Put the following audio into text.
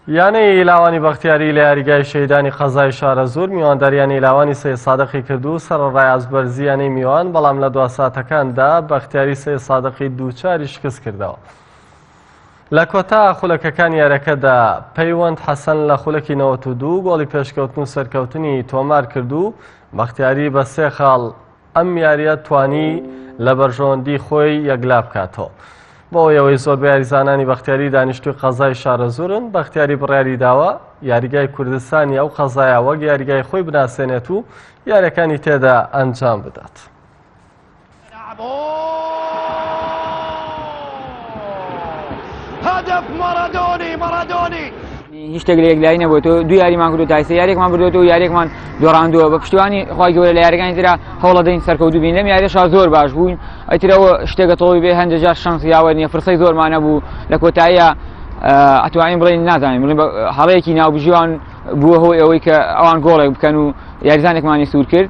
یانەی لاوانی بەختیاری لە یاریگای شەیدانی قەزای شارەزوور میوانداریانی لاوانی سێ سادقی کرد و سەرڕای ئازبەرزییانەی میوان بەڵام لە دوا ساتەکاندا بەختیاری سێ سادقی دووچاری شکست کردەوە. لە کۆتا خولەکەکان یارەکەدا پەیوەند حەسەن لە خولەکی 92 گۆڵی پێشکەوتن و سەرکەوتنی تۆمار کرد و بەختیاری بە سێ خاڵ ئەم یاریە توانی لە بەرژەوەندی خۆی یەکلا بکاتەوە بۆ ئەوەی زۆر یاریزانانی بەختیاری دانیشتوی قەزای شارەزورن بەختیاری بڕیاری داوە یاریگای کوردستانی ئەو قەزایە وەک یاریگای خۆی بناسێنێت و یارەکانی تێدا ئەنجام بدات. هدف مارادوني مارادوني هیچ شتێک لە یەکلایی نەبووە تۆ دوو یاریمان کردو تایسە یاریێکمان بردوێت و یاریێکمان دۆڕاندووە بە پشتیوانی خخوای گەورە لە یاریەکانی تررا هەوڵە دەین سەرکەوتو بین لەم یاریشا زۆر باش بووین ئەترەوە شتێکە تۆڵی بێ هەندێک جار شەنس یاوە نیە فرسەی زۆرمانە بوو لە کۆتاییە ئەتوانین بڵین نازانین بڵین هەڵەیەکی ناوبژیوان بووە هۆی ئەوەی کە ئەوان گۆڵێک بکەن و یاریزانێکمانی سوور کرد